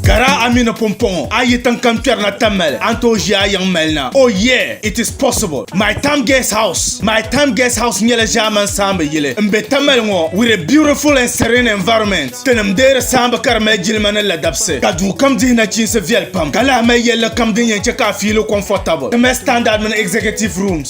Gara a mi ni pumpɔŋɔ a yi tiŋ kam kpɛri na Tamale a ni tooi ʒi a yiŋ mali na. Oh yeah, it is possible. My Tam Guest House My Tam Guest House nyɛla ʒɛman saamba yili n be Tamale ŋɔ with a beautiful and serene environment. Tinim deei di saamba ka di mali jilima ni ladabsi ka duu kam dihi nachiinsi viɛli pam ka lahi mali yɛlli kam din yɛn chɛ ka a fiili comfortable. Di mali standard mini executive rooms.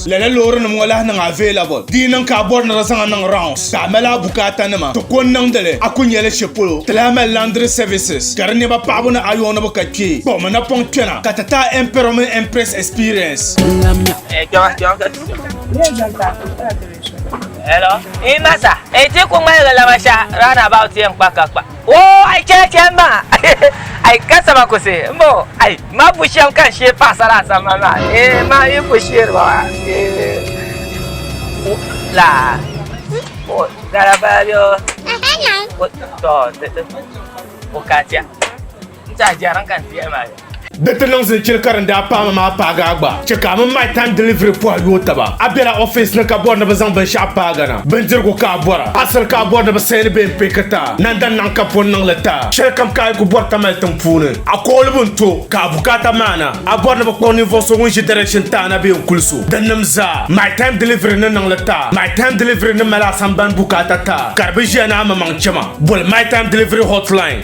Lala loorinima ŋɔ lahi niŋ available. Di yi niŋ ka a bɔri ni di zaŋ a niŋ rounds ka a mali a bukaatanima, ti ko n-niŋdi li. A ku nya li shɛ polo, ti lahi mali laundry services ka di nɛma paɣibu ni ayɔɔnibu ka kpee kpuɣi mi napɔŋ kpɛna ka ti ti a Emperor mini Empress experience. Oo ai chɛli chɛli ma ai ka sama ku si m bo ai ma bu shɛm ka n shee paɣasara a sambani maa ee ma yi ku sheeri ba maa ee laa o gara baa bɛ o tɔ o ka chɛ Di ti niŋ zilichili ka din daa paami maa paagi a gba. Chɛ ka a mini my time delivery pɔhi yooi taba. A bela office ni ka bɔri ni bɛ zaŋ binshɛɣu paag a na. Bindirigu ka a bɔra. Asiri ka a bɔri ni bɛ sayini bee m-pee ka ta. Nanda naɣ ka pɔ n-niŋ li ta. Shɛlikam ka a yi ku bɔri tamali tiŋ puuni, a kɔɣilibu n-to ka a bukaata maana. A bɔri ni bɛ kpuɣi ninvuɣ so ŋun ʒi direction taai na bee n-kuli so dinnim zaa. My time delivery ni niŋ li ta. My time delivery ni mali a sambani bukaata ta ka di bi ʒiya ni a mamaŋ chɛma. Boli my time delivery hotline.